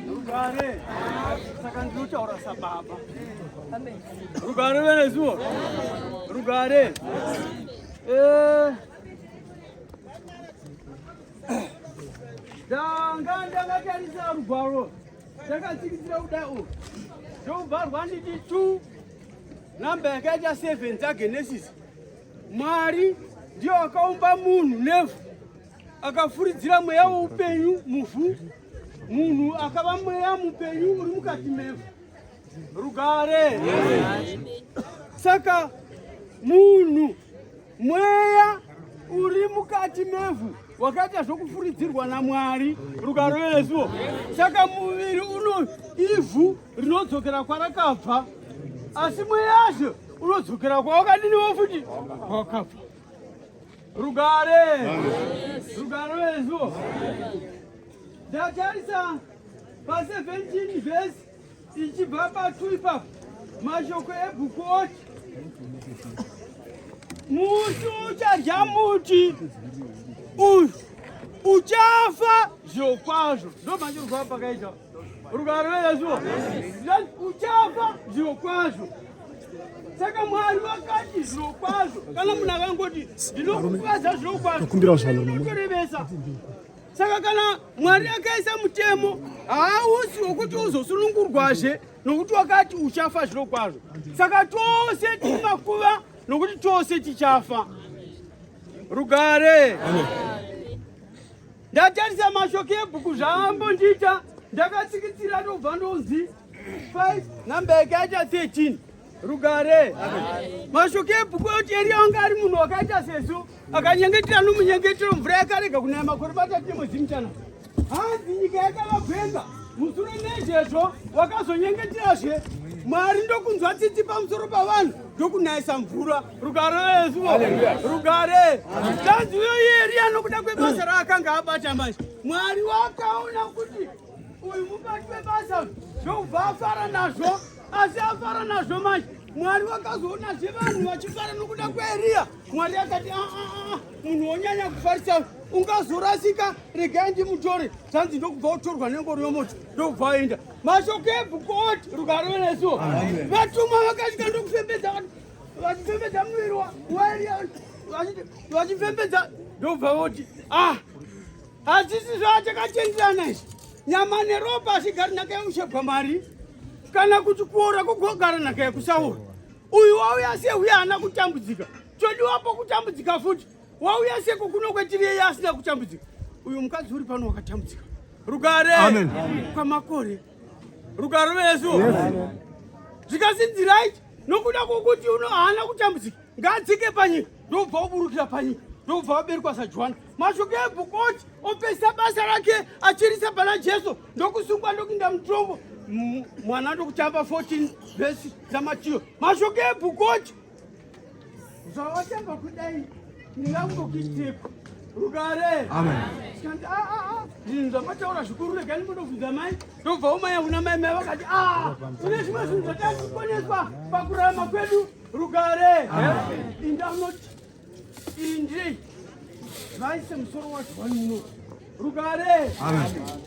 Rugare. Saka ndinotaura sababa. Rugare venezuwo. Rugare. Eh. Ndanga ndakatarisa rugwaro. Ndakatsikitsira kuda u. Ndobvarwa nditi 2 namba yakaita 7 dzaGenesis. Mwari ndiyo akaumba munhu nevhu akafuridzira mweya woupenyu muvhu munhu akava mweya mupenyu uri mukati mevo rugare saka munhu mweya uri mukati mevhu wakaita zvokufuridzirwa namwari rugaro yesu saka muviri uno ivhu rinodzokera kwarakabva asi mweyazvo unodzokera kwawakadini wofuti kwawakabva Rugare! Rugare vezvo! Ndatarisa pa 17 verse ichibva patu ipapo mashoko ebhuku oti musi uchadya muti uyu uchafa zvokwazvo ndomanje rwaa pakaita Rugare rweyesu uchafa zviro kwazvo saka mwari vakati zviro kwazvo kana munhu akangoti ndinokukwadza zviro kwazvokumbiraotorevesa saka kana mwari akaisa mutemo hausi wokuti uzosunungurwazve nokuti wakati uchafa zviro kwazvo saka tose timakuva nokuti tose tichafa rugare Amen. Ndatarisa mashoko ebhuku zvaambondiita ndakatsikitsira ndobva ndonzi 5 number yakaita 13 rugare mashoko ebhuku oti eriya anga ari munhu wakaita sesu akanyengetera nomunyengetero mvura yakarega kunaya makore matatu nemwezimutana hanzi nyika yakavagwenga musure nezvezvo wakazonyengeterazve mwari ndokunzwa tsitsi pamusoro pavanhu ndokunayisa mvura Rugare Yesu. Rugare. Tanzi uyo Eria nokuda kwebasa raakanga abata manje. Mwari wakaona kuti uyu mubati webasa zvobva afara nazvo asi afara nazvo manje mwari vakazoona zve vanhu vachifara nokuda kweeriya mwari akati aa ah, ah, ah, munhu wonyanya kufarisa ungazorasika regai ndimutore zvanzi ndokubva utorwa nengoro yomoto ndokubva aenda mashoko ebhuku oti rugare venesuo vatumwa vakasvika ndokufembedza vati vachipembedza muviri vachipembedza ndobva voti ah hazvisi zvaachakachenjerana izvi nyama neropa hazvigari nhaka yekushebwa mari kana kuti kuora kugogara nhaka yekusaora uyu wauya se uye haana kutambudzika chodiwapo kutambudzika futi wauya seko kuno kwetiri yeye asina kutambudzika uyu mukadzi uri pano wakatambudzika rugare kwamakore rugare vesu zvikasinziraiti nokuda kwokuti uno haana kutambudzika ngaadzike panyika ndobva oburukira panyika ndobva vaberikwa sajohani mashoko ebhukoti opesisa basa rake achirisa pana jesu ndokusungwa ndokuinda mutongo mwana ndokutamba 14 vhesi dzamatiyo mashoko ebhukoti Zvawatamba kudai ndingangokuitepo rugare tikati aa ah, ah, ah, zvinhu zvamataura zvikuru regai ndinobvunza mai ndobva umaya una mai mai vakati a une zvimwe zvinhu zvatari kukoneswa pakurarama kwedu rugare indanoti indi vaise musoro wacho wani muno rugare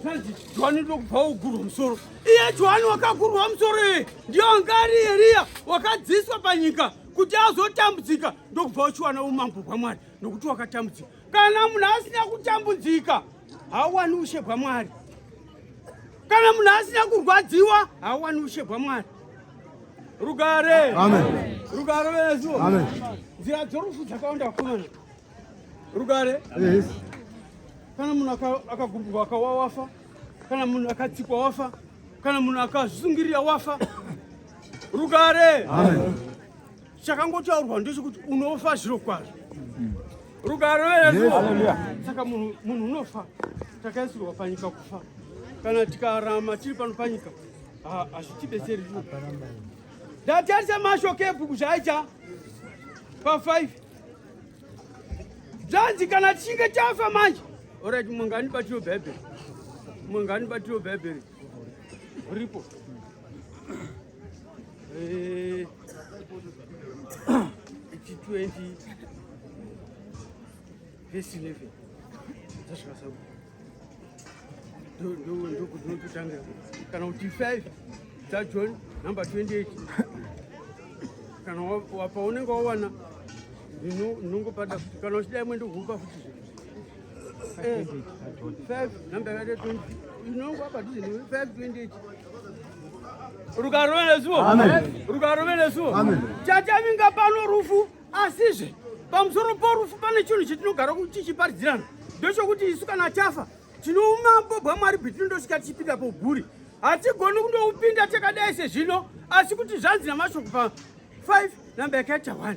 tanzi johani ndokubva wogurwa musoro iye johani wakagurwa musoro iye ndiyo angari eriya wakadziswa panyika kuti azotambudzika ndokubva uchiwana umambo bwamwari nokuti wakatambudzika kana munhu asina kutambudzika hauwani ushe bwamwari kana munhu asina kurwadziwa hauwani ushe bwamwari rugare rugare vesu nzira dzorufu dzakawanda vakomana Rugare. Yes. Kana munhu akagumburwa akawa wafa, kana munhu akatsikwa wafa, kana munhu akazvizungirira wafa. Rugare. Amen. Chakangotaurwa ndechekuti unofa zviro kwazvo. Rugare wedu. Saka munhu munhu unofa. Takaisirwa panyika kufa. Kana tikarama tiri pano panyika hazvitibetseri zvino. Ndatarisa mashoko ebhuku zvaicha pa 5 zvanzi kana chinge chafa manje orit mungani batiro bhaibheri mungani batiro bhaibheri ripo eh, ichi 20 vesi 11 zvasvika sabu ndokudonototanga kana kuti 5 dzajohn number 28 kana wapaunenge wawana ndinongopada kuti kana uchidai mwendo kuupa futi eh, rukarove nesuwo rukarove nesuwo chachavinga pano rufu asizve pamusoro porufu pane chinhu chetinogara tichiparidzirana ndochokuti isu kana tafa tinoumambo bwamwari bwetinotoshika tichipinda pouguri hatigoni kundoupinda takadai sezvino asi kuti zvanzi namashoko pa 5 namba yakaita 1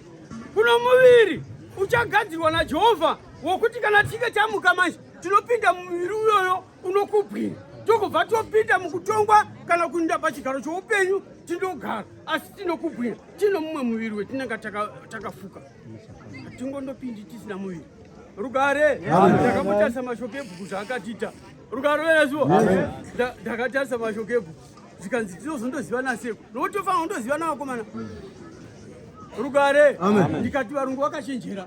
kuno muviri uchagadzirwa najehovha wokuti kana tichinge tamuka manje tinopinda mumuviri uyoyo unokubwira tokubva topinda mukutongwa kana kuinda pachigaro choupenyu tinogara asi tinokubwira tino mumwe muviri wetinenge takafuka hatingondopindi tisina muviri rugare ndakamutarisa mashoko ebhuku zvaakatiita rugare verezuo ndakatarisa mashoko ebhuku zvikanzi tinozondoziva naseko nokuti tofanira kundoziva navakomana rugare ndikati varungu vakachenjera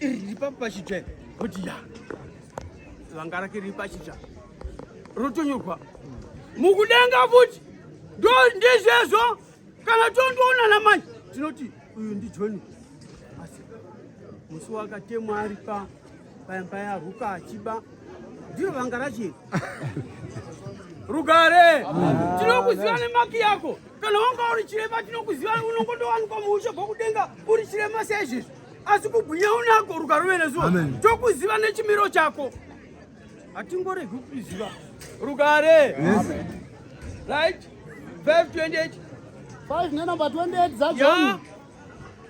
iri riri papo pachitsva kuti ya vanga rake riri pachitsva rotonyorwa mukudenga futi ndo ndizvezvo kana tondoonana manje tinoti uyu ndijoni asi musi wakatemwa ari pa paimba yaruka achiba ndiro vanga rachiri rugare tinokuziva nemaki yako kana wanga uri chirema tinokuziva unongotowanikwa muushe bhokudenga uri chirema seizvezvi asi kugwinya unako rukaruve nezuva tokuziva nechimiro chako hatingoregi kukuziva rugare right 528 5 nenumber 28 zajohn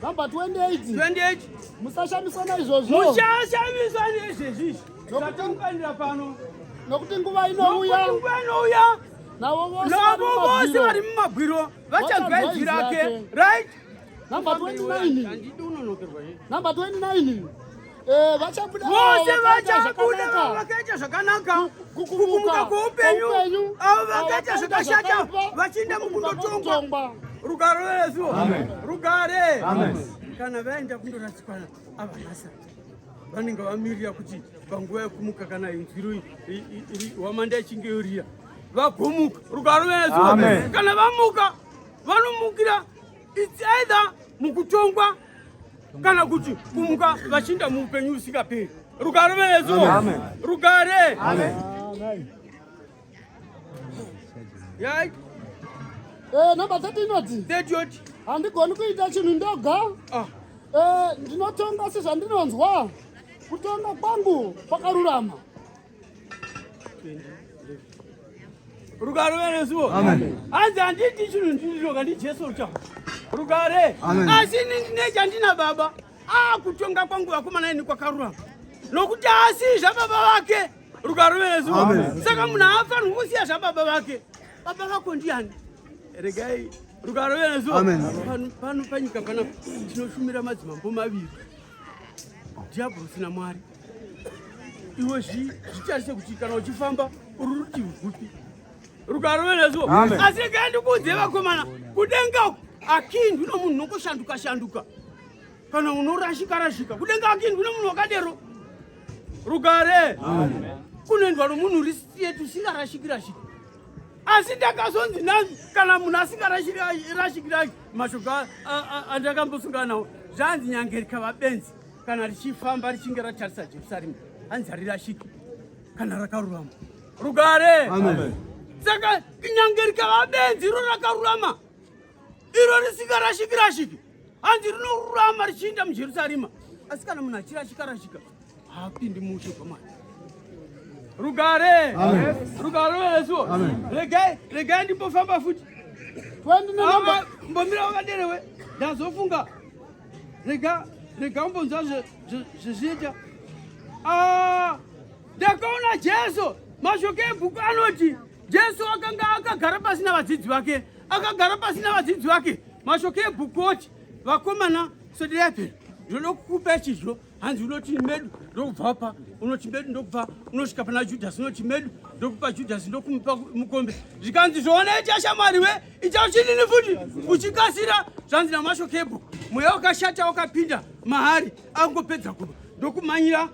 number 28 28 musashamiswa naizvozvo mushashamiswa nezvezvizvi zvatinofanira pano nokuti nguva inouya nguva inouya navo vose vari mumagwiro vachagwedzirake right Number 29. Number 29. Eh, vachabuda vose vachabuda vakaita zvakanaka kukumuka kweupenyu avo vakaita zvakashata vachienda mukundotongwa rugare resu rugare kana vaenda kundorasika avanasa vanenge vamirira kuti panguva yekumuka kana inzwiro hwamanda ichinge yorira vagomuka rugare resu kana vamuka vanomukira It's either mukutongwa kana kuti kumuka vachinda muupenyu usingaperi. Rugare venezo. Amen. Rugare. Amen. Amen. Yai. Eh, number 30 inoti. 30 yoti. Handigoni kuita chinhu ndoga. Ah. Eh, ndinotonga sezvandinonzwa. Kutonga kwangu kwakarurama. rugare veresuo hanzi handiti chinhu ndiriroka ndijesu ruchama rugare asi ini ndine chandina baba akutonga kwangu vakomana ini kwakarurama nokuti asi zvababa vake rugare veresuo saka munhu haafanirwi kusiya zvababa vake baba vako ndiani regai rugare veresuo pano panyika panapa tinoshumira madzimambo maviri dhiabhorosi namwari iwe zvitarise kuti kana uchifamba uri rutivi rwupi rukaroverezo asi regai ndikuudze vakomana kudenga uku akindwi nomunhu nokoshanduka shanduka kana unorashika rashika kudenga akindwi nomunhu wakadero rugare kunoendwa nomunhu uri straight usingarashiki rashiki asi ndakazonzi nanzi kana munhu asingarashikirashiki mashoko andakambosungana nawo zvanzi nyangerika vabenzi kana richifamba richinge ratarisa Jerusarema hanzi harirashiki kana rakarurama rugare saka kunyange rikava benzi iro rakarurama iro risikarashiki rashiki hanzi rinorurama richiinda mujerusarema asi kana munhu achirashika rashika haapindi muushe kwamwari rugare rugare ruveresuo regai regai ndimbofamba futi mbomira wakaderewe ndazofunga rega rega umbonzwa zvezviita ah, ndakaona jesu mashoko ebhuku anoti jesu akanga akagara pasi navadzidzi vake akagara pasi navadzidzi vake mashoko ebhuku oti vakomana sodirapera ndinoda kukupa chizvo hanzi unoti medu ndokubva pa unoti medu ndokubva unosvika pana judhasi unoti medu ndokupa judhasi ndokumupa mukombe zvikanzi zvoonaita shamwari we ita uchinini futi uchikasira zvanzi namasho kebho mweya wakashata wakapinda mahari akungopedza kuba ndokumanyira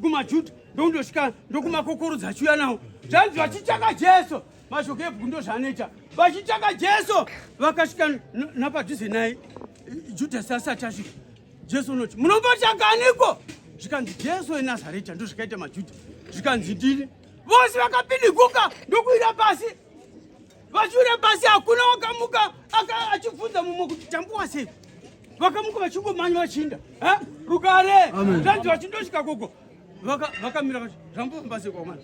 kumajuda ndokundosvika ndokumakokorodza achiuya nawo zvanzi vachichaka jesu mashoko ebhuku ndozvaanoita vachitsvaka jesu vakasvika napadhuze naye judhasi asati asvika jesu unoti munombotsvakaniko zvikanzi jesu enazareta ndozvakaita majudha zvikanzi ndini vose vakapiniguka ndokuira pasi vachiwira pasi hakuna wakamuka achibvunza mumwe kuti tambuwa sei vakamuka vachingomanya vachinda rugare zvanzi vachindosvika koko vakamira vati zvambofamba sei kwamana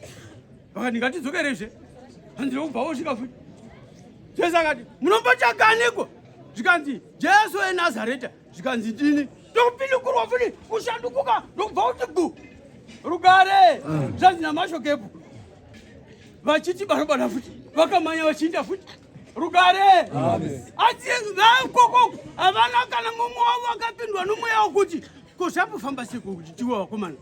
vakati ngatidzokerezve handina kubva wosvika futi jesu akati munombotsvaganiko zvikanzi jesu enazareta zvikanzi ndini ndokupindukurwa futi kushandukuka ndokubva kuti gu rugare zvanzi namashokepo vachiti barobana futi vakamanya vachiinda futi rugare asi vaikoko havana kana mumwe wavo akapindwa nomweya wokuti ko zvakufamba sekuti tiwe wakomana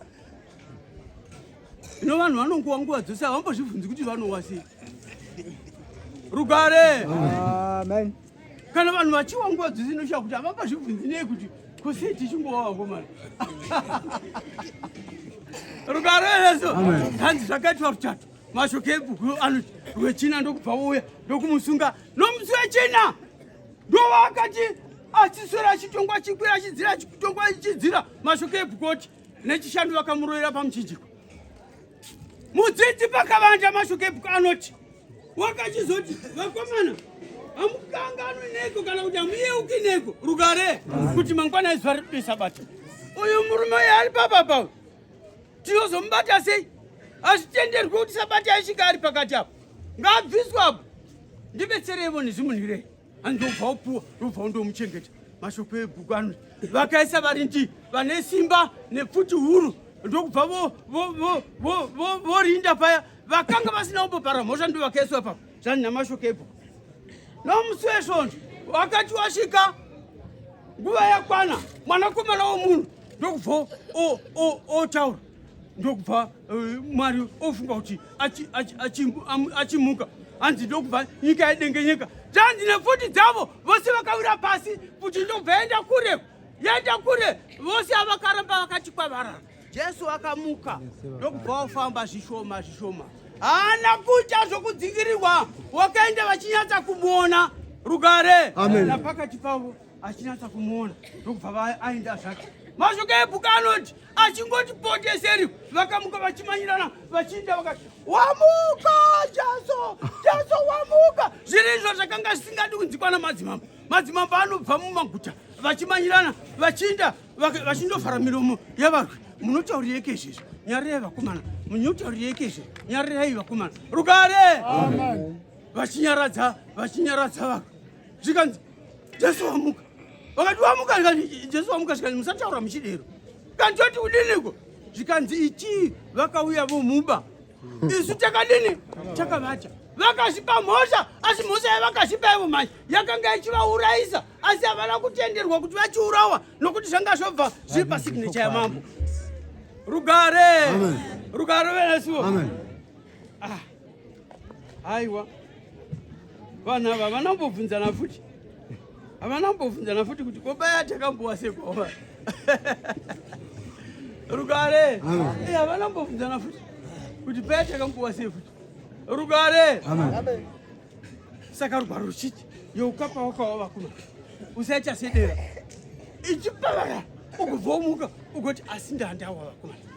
Zvino vanhu vanongowa nguva dzose havambozvibvunzi kuti vanowa sei. Rugare. Amen. Kana vanhu vachiwa nguva dzose inoshaya kuti havambozvibvunzi nei kuti kusei tichingowa vakomana. Rugare yesu. Hanzi zvakaitwa ruchato. Mashoko ebhuku anoti rwechina ndokubva wouya ndokumusunga nomusi wechina ndovakati achiswera achitongwa chikwira achidzira achitongwa achidzira mashoko ebhuku oti nechishanu vakamuroyera pamuchinjiko mudzidzi pakavanja mashokepuko anoti wakachizoti vakomana hamukanganwi neko kana kuti hamuyeuki neko rugare kuti mangwana izuva riri kudoisa bata uyu murume uyo ari papa pavo tinozomubata sei hazvitenderwi kuti sabata aisvika ari pakati apo ngaabviswa apo ndibetsereivo nezvimunhirei andobva upuwa ndobva undomuchengeta mashoko ebhuku ano vakaisa varindi vane simba nepfuti huru ndokubva vorinda paya vakanga vasina kumbopara mhosva ndo vakaiswa papa zvani namashoko ebhuku nomusi wesvondo wakati wasvika nguva yakwana mwanakomana womunhu ndokubva otaura ndokubva eh, mwari ofunga kuti achimuka hanzi ndokubva nyika yedengenyeka zvanzi nepfuti dzavo vose vakawira pasi kuti ndobva yaenda kure yaenda kure vose avakaramba vakati kwavarara jesu akamuka ndokubva wafamba zvishoma zvishoma haana kuita zvokudzingirirwa wakaenda vachinyatsa kumuona rugare napakati pavo achinatsa kumuona ndokubva aenda zvake mashoko ebhuku anoti achingoti poteseri vakamuka vachimanyirana vachiita vakati wamuka jaso jaso wamuka zviri izvo zvakanga zvisingadi kunzikwa namadzimambo madzimambo anobva mumaguta vachimanyirana vachiinda vachindovhara miromo yavarwi munotaurireiko izvezvi nyarirai vakomana munotaurireiko izve nyarirai vakomana rugare vachinyaradza vachinyaradza varwi zvikanzi jesu wamuka vakati wamuka zvikanzi jesu wamuka zvikanzi musataura muchidero kanti toti kudiniko zvikanzi ichii vakauya vomuba isu takadini takavata vakazvipa mhosva asi mhosva yavakazvipa ivo manje yakanga ichivaurayisa asi havana kutenderwa kuti vachiurawa nokuti zvanga zvobva zviri pasignecha yamambo rugare rugare venesuo haiwa vanhu ava havana kumbobvunzana futi havana kumbobvunzana futi kuti kobaya takambowa sekwawa rugare eh, havana kumbobvunzana futi kuti paya takambowa sei futi rugare saka rugwaro ruchiti youkapa wakawa vakuma usaita sedera ichipavara ukubvomuka ugoti asi ndandawa vakomana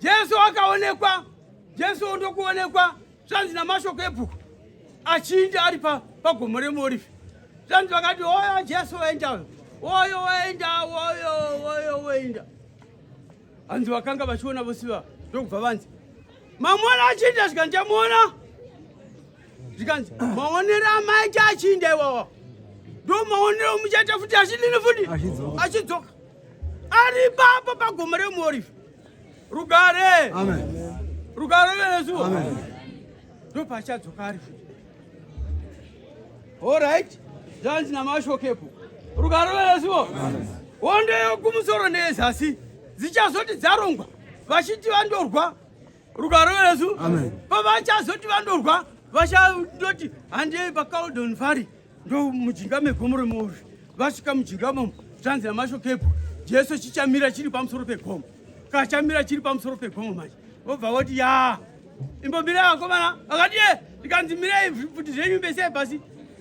Jesu akaonekwa, Jesu ndokuonekwa zvanzi namashoko ebhuku achinja ari pagomo remuorivhi zvanzi vakati oyo Jesu waenda uyo oyo waenda oyo oyo waenda hanzi vakanga vachiona vose vava ndokubva vanzi mamona achinja zvikanzi tamuona zvikanzi maonero amaita achinja iwawa ndo maonero muchaita futi achidini futi achidzoka ari papa pagomo remuorifi rugare rugare vesu ndopachadzoka ari futi orit zvanzi namashokepo rugare vesuo hondo yokumusoro neyezasi dzichazoti dzarongwa vachiti vandorwa rugare vesu pavachazoti vandorwa vachadoti handei pacaldon fari ndo mujinga megomo remuori vasvika mujinga momo zvanzi namashokepo jesu chichamira chiri pamusoro pegomo kachamira chiri pamusoro pegomo manje vobva voti ya imbomira vakomana vakati e eh, ndikanzi mirei futi zvenyu bese pasi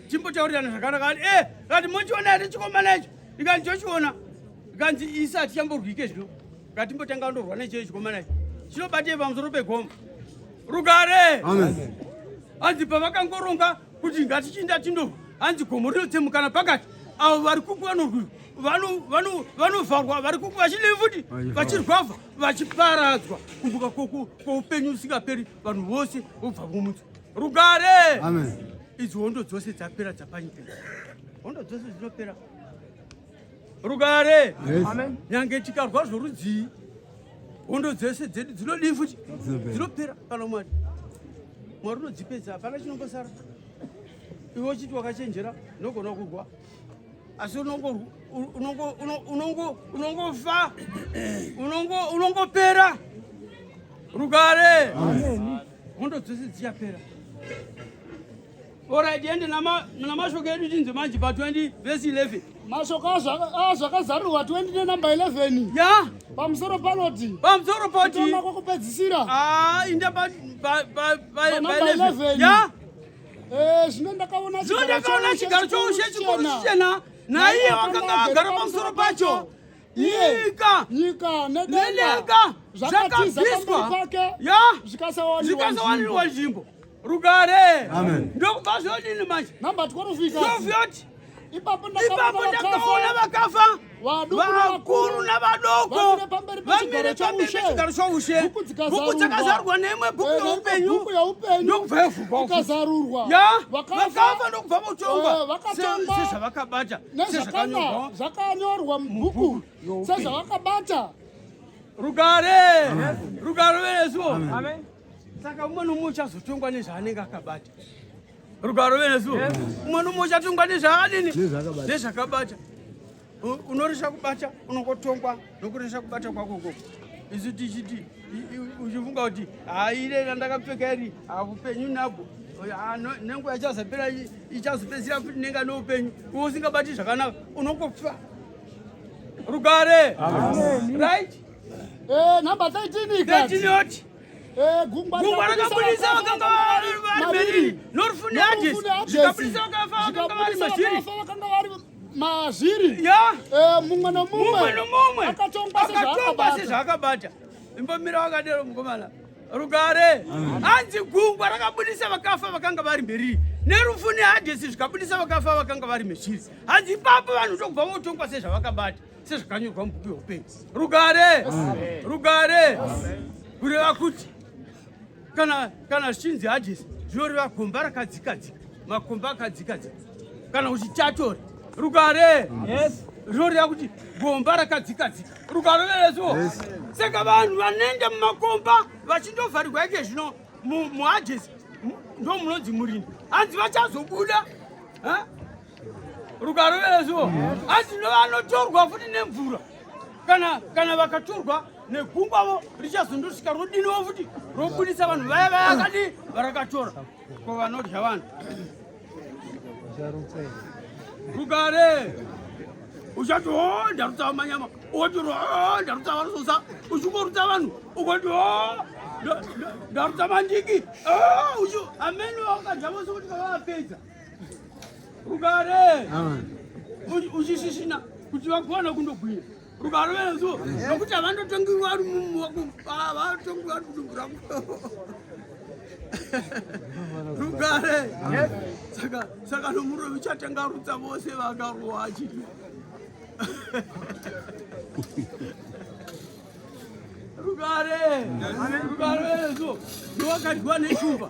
timbotaurirana zvakanaka kati e eh, kati mochiona here chikomana icho ndikanzi chochiona ndikanzi isi hatichamborwike zvino ngatimbotanga ndorwa necheyo chikomana icho chinobatei pamusoro pegomo rugare anzi pavakangoronga kuti ngatichinda tindo hanzi gomo rinotsemukana pakati avo vari kupanorwi vanovharwa vari kuku vachidei futi vachirwavha vachiparadzwa kumbuka kwoupenyu usingaperi vanhu vose vobva vomutswa rugare idzi hondo dzose dzapera dzapanyika hondo dzose dzinopera rugare nyange tikarwa zvorudzii hondo dzese dzedu dzinodii futi dzinopera kana mwari mwari unodzipedza hapana chinongosara iwe uchiti wakachenjera unogona kurwa asi unongofa unongopera rugare hondo dzese dziyapera Alright, ende namashoko edu tinzwe manje pa 20 verse 11. Mashoko azvakazarurwa ah, 20 nenumber 11. Ya. Pamusoro panoti. Pamusoro poti. Kutanga kwokupedzisira. Ah, inda pa pa pa pa 11. Ya. Eh, zvino ndakaona chigaro. Zvino ndakaona chigaro choushe chikuru chichena. Naiye wakanga agara pamusoro pacho. Nyika. Nyika nedenga. Zvakabviswa. Ya. Zvikasawanirwa nzvimbo. Rugare. Amen. Ndokupa zvodini manje. Number 12 ikazi. 12 yoti. Ipapo ndakaona vakafa vakuru navadoko vamire pamberi pechigaro choushe bhuku dzakazarurwa neimwe bhuku eh, yeupenyu ndokubva yavhurwa vakafa ndokubva votongwa eh, sezvavakabata sezvakanyorwa mubhuku sezvavakabata rugare rugare veresuo saka umwe nomwe uchazotongwa nezvaanenge akabata rugaro venesu umwe nomwe uchatongwa nezvaanini nezvakabata unoresha kubata unongotongwa nokuresha kubata kwako koko isu tichiti uchifunga kuti haire randakapfeka iri hakupenyu nabwo nenguva ichazopera ichazopedzira futi nenga neupenyu uwe usingabati zvakanaka unokofa rugare right Eh, number 13 ikati. 13 yoti. Eh, gungwa rakabudisa vakanga vari maviri. Norufuni aje. Zvikabudisa vakanga vari mazviri. Vakanga vari mazviri. Ya. Eh, mumwe no mumwe. Mumwe no mumwe. Akatongwa sezvaakabata. Imbomira wakadero mukomana. Rugare. Anzi gungwa rakabudisa vakafa vakanga vari mberi. Nerufu nehadesi zvikabudisa vakafa vakanga vari mezviri. Hanzi ipapo vanhu tokubva votongwa sezvavakabata. sezvakanyorwa mubhuku yeupenyu rugare rugare kureva kuti kana kana zvichinzi hadisi zvinoreva gomba rakadzikadzika makomba akadzikadzika kana kuti chatore rugare zvinoreva kuti gomba rakadzikadzika rugare verezuo saka vanhu vanoenda mumakomba vachindovharirwa ike zvino muhadisi ndo munonzi murindi hanzi vachazobuda rukaruvera zuo asi novanotorwa futi nemvura kana kana vakatorwa negungwavo richazondosvika rodiniwo futi robudisa vanhu vaya vaya kadi varakatora ko vanodya vanhu rugare uchati o ndarutsava manyama oti ro ndarutsava rusosa uchingorutsa vanhu ukoti o ndarutsa mandiki amene wakadya vose kuti kavavapedza Rugare. Uchishisina kuti vakwana kundogwinya. Rugare vezo nokuti avandotongi vari mumu wako avatongi vari kudubura. Rugare. Saka saka nomuro vichatanga rutsa vose vakaruwa achiti. Rugare. Rugare vezo. Ndiwakadyiwa neshumba.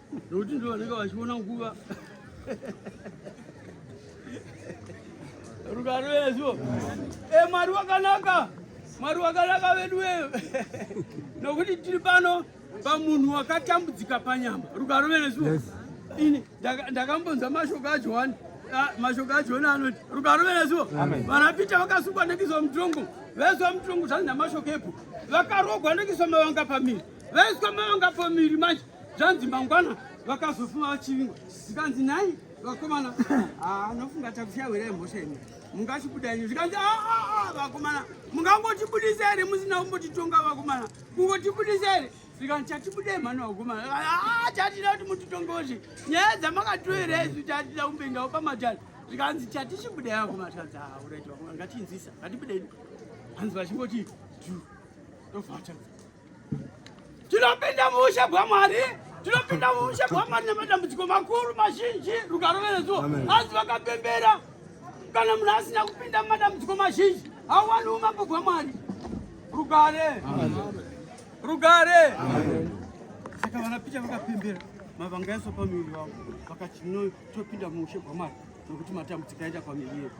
nokuti ndo vanenge vachiona nguva rugare vezvo e eh, mwari wakanaka mwari wakanaka vedu weyo nokuti tiri pano pamunhu wakatambudzika panyama rugare vezvo ini ndakambonza mashoko ajohani ah, mashoko ajohani anoti rugare vezvo vanapita vakasungwa nekizo mutongo vezwa mutongo zvanzi namashoko epo vakarogwa nekiso mavanga pamiri Vaiswa mavanga pamiri manje zvanzi mangwana vakazofuma vachivingwa zvikanzi nhai vakomana anofunga ah, takusiya hwera yemhosva imi mungachibudaini zvikanzi ah, ah, vakomana mungangotibudisa here musina kumbotitonga vakomana kungotibudisa here zvikanzi chatibudei mhani vakomana chatida kuti mutitongozi nyaya dzamakatoera isu chatida kumbendawo pamatari zvikanzi chatichibudei vakomana zvikanzi auraiti vakomana ngatinzisa ngatibudei hanzi vachingoti du ndovachaa tinopinda muushe bwamwari tinopinda muushe bwamwari nemadambudziko makuru mazhinji rugaro verezuo asi vakapembera kana munhu asina kupinda mumadambudziko mazhinji hauwani umambo bwamwari rugare rugare saka vanapicha vakapembera mavanga yaso pamuviri wavo vakati topinda muushe bwamwari nokuti matambudziko aita pamuviri yedu